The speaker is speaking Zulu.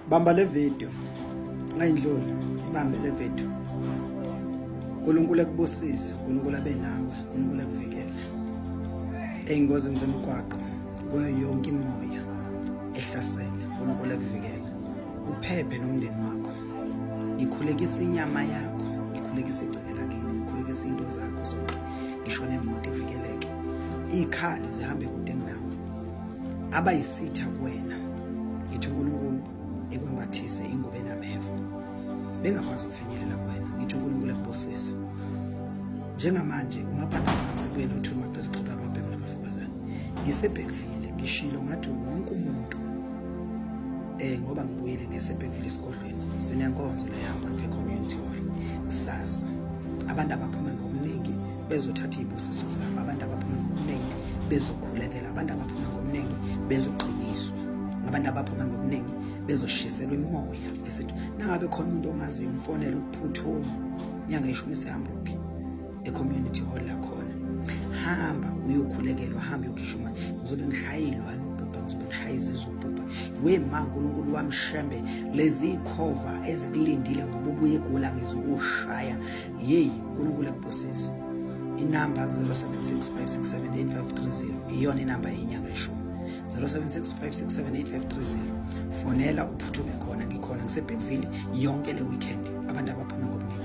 bamba le video ngayindluli ibambe le video uNkulunkulu ekubusise uNkulunkulu abe nawe uNkulunkulu ekuvikele engozini zemgwaqo kuyo yonke imoya ehlasele uNkulunkulu ekuvikele uphephe nomndeni wakho ngikhulekisa inyama yakho ngikhulekisa igceke lakini ngikhulekisa into zakho zonke ngisho nemoto ivikeleke ikhali zihambe kude abayisitha kuwena ngithi uNkulunkulu ekwembathise ingubo enameva bengakwazi ukufinyelela kuwena ngithi uNkulunkulu ekubusise njengamanje ungabhanda phansi kuyena uthi uma kuzixoxa abantu emnabafokazana ngisebhekvile ngishilo ngathi wonke umuntu eh ngoba ngibuyile ngesebhekvile esigodlweni sinenkonzo leyamba ke community hall kusasa abantu abaphuma ngobuningi bezothatha iy'busiso zabo abantu abaphume ngobuningi bezokhulekela abantu abaphume ngobuningi bezoqiniswa abantu abaphume ngobuningi bezoshiselwa imimoya esithi nangabe khona umuntu omaziyo umfonele ukuphuthuma inyanga yeshumi sihamba ukhe e-community hall lakhona hamba uyokhulekelwa hamba uyokhishwa imali ngizobe ngishayelwa nobhubha ngizobe ngishaya izizwe ubhubha wema nkulunkulu wamshembe lezi khova ezikulindile ngoba ubuye egula ngizokushaya yeyi unkulunkulu akubusise inamba 0765678530 iyona inamba yenyanga eshumi 0765678530 fonela uphuthume khona ngikhona ngisebhekville yonke le weekend abantu abaphume ngobuningi